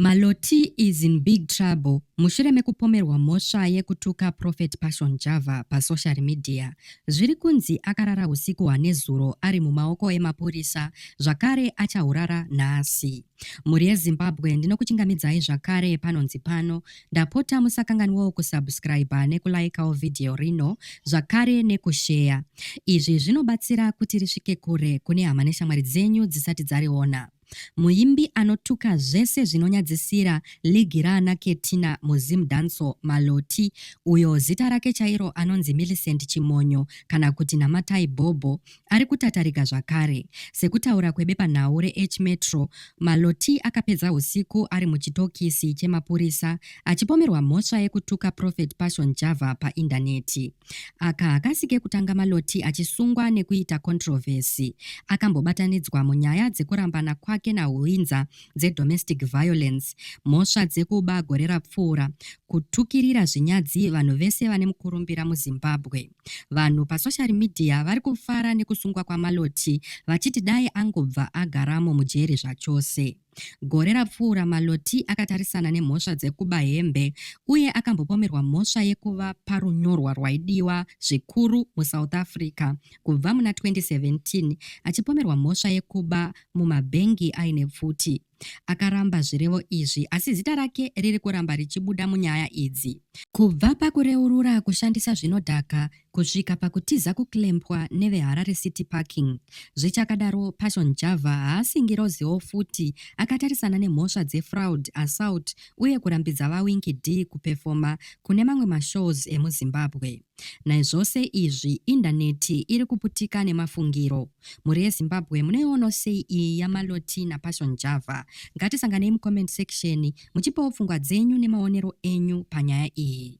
Maloti is in big trouble mushure mekupomerwa mhosva yekutuka Prophet Passion Java pasocial media. Zviri kunzi akarara husiku hwanezuro ari mumaoko emapurisa zvakare achahurara nhasi. Mhuri yeZimbabwe ndinokuchingamidzai zvakare panonzi pano. Ndapota musakanganwawo kusubscriber nekulaikawo vhidhiyo rino zvakare nekusheya. Izvi zvinobatsira kuti risvike kure kune hama neshamwari dzenyu dzisati dzariona. Muimbi anotuka zvese zvinonyadzisira ligi raana Ketina muZim Dancehall, Maloti, uyo zita rake chairo anonzi Millicent Chimonyo kana kuti Namatai Bhobho, ari kutatarika zvakare. Sekutaura kwebepanhau reH-Metro, Maloti akapedza husiku ari muchitokisi chemapurisa achipomerwa mhosva yekutuka Prophet Passion Java paindaneti. Aka hakasi kekutanga Maloti achisungwa nekuita controversy. Akambobatanidzwa munyaya dzekurambana kwake naHuinza dzedomestic violence, mhosva dzekuba gore rapfuura, kutukirira zvinyadzi vanhu vese vane mukurumbira muZimbabwe. Vanhu pasocial media vari kufara nekusungwa kwaMaloti vachiti dai angobva agaramo mujeri zvachose. Gore rapfuura, Maloti akatarisana nemhosva dzekuba hembe uye akambopomerwa mhosva yekuva parunyorwa rwaidiwa zvikuru muSouth Africa kubva muna 2017 achipomerwa mhosva yekuba mumabhengi aine pfuti. Akaramba zvirevo izvi asi zita rake riri kuramba richibuda munyaya idzi. Kubva pakureurura kushandisa zvinodhaka kusvika pakutiza kuclampwa neveharare city parking zvichakadaro passion java haasi ngiroziwo futi akatarisana nemhosva dzefraud assault uye kurambidza vawinki d kupefoma kune mamwe mashows emuzimbabwe naizvose izvi indaneti iri kuputika nemafungiro mhuri yezimbabwe munoiono sei iyi yamaloti napassion java ngatisanganei mucomment section muchipawo pfungwa dzenyu nemaonero enyu panyaya iyi